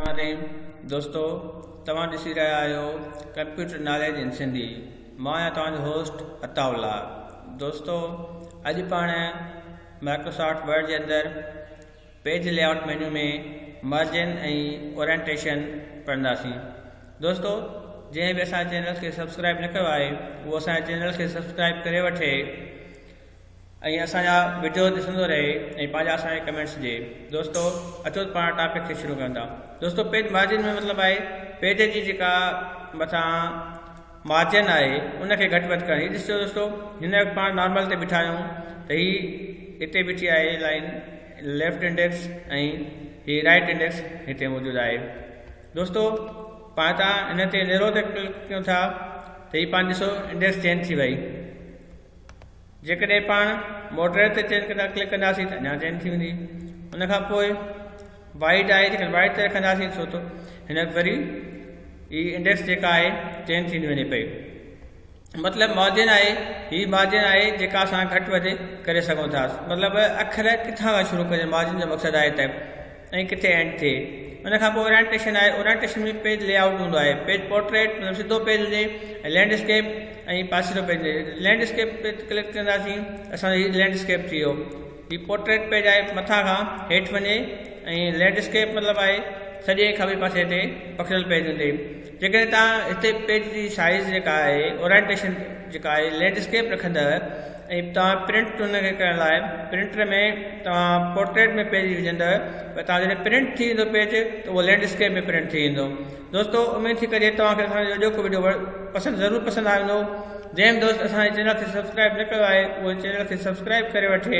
رحمان الرحيم دوستو توهان ڏسي رهيا آهيو ڪمپيوٽر ناليج ان سنڌي مان آهيان توهان جو هوسٽ عطاء الله دوستو اڄ پاڻ مائڪروسافٽ ورڊ جي اندر page layout menu ۾ margin ۽ orientation پڙهنداسين دوستو جنهن به اسان چينل کي سبسڪرائب نه ڪيو آهي اهو اسان چينل کي سبسڪرائب ڪري وٺي ائين اسان جا وڊيو ڏسندو رهي ۽ پنهنجا اسان کي ڪمينٽس ڏي دوستو اچو ته پاڻ ٽاپڪ کي شروع ڪيون ٿا دوستو پيج مارجن ۾ مطلب آهي پيج جي جيڪا مٿان مارجن آهي ان کي گهٽ وڌ ڪرڻي ڏسجو دوستو هن وقت پاڻ نارمل تي بيٺا آهيون ته هي هتي بيٺي آهي لائن ليفٽ انڊيڪس ۽ هي رائٽ انڊيڪس هتي موجود آهي دوستو پاڻ تان هن تي نيرو تي ڪلڪ ڪيون ٿا ته هي پاڻ ڏسو انڊيڪس چينج ٿي وئي جيڪڏهن پاڻ ماڊريٽ تي چين ڪلڪ ڪنداسين ته اڃا چين ٿي ويندي ان کان پوء وائيڊ آهي جيڪڏهن وائيڊ تي رکنداسين ڇو ته هن ذري هي انڊيڪس جيڪا آهي چين ٿيندي وڃي پئي مطلب مارجن آهي هي مارجن آهي جيڪا اسان گهٽ وڌ ڪري سگهون ٿا مطلب اکر ڪٿان کان شروع ڪجن مارجن جو مقصد آهي ته ۽ ڪٿي اينڊ ٿئي. ان کان پوء اورينٽيشن آهي، اورينٽيشن ۾ پيج لي آئوٽ هوندو آهي، پيج پورٽريٽ مطلب سڌو پيج هجي ۽ لينڊ اسڪيپ ۽ پاسيرو پيج هجي، لينڊ اسڪيپ تي ڪلڪ ڪنداسين ته اسان جو هي لينڊ اسڪيپ ٿي ويو، هي پورٽريٽ پيج آهي مٿان کان هيٺ وڃي ۽ لينڊ اسڪيپ مطلب آهي سڄي کاٻي پاسي تي پکڙيل پيج هوندي جيڪڏهن توهان هتي پيج جي سائيز جيڪا آهي اورائينٽيشن جيڪا آهي لينڊسڪيپ رکندء ۽ توهان پرنٽ ان کي ڪرڻ لاء پرنٽر ۾ توهان پورٽريٽ ۾ پيج وجهندء پر توهان جڏهن پرنٽ ٿي ويندو پيج ته اهو لينڊسڪيپ ۾ پرنٽ ٿي ويندو دوستو اميد ٿي ڪجي توهان کي اسان جو اڄوڪو وڊيو پسند ضرور پسند آيو هوندو جنهن به دوست اسان جي چينل کي سبسڪرائيب نه ڪيو آهي اهو چينل کي سبسڪرائيب ڪري وٺي.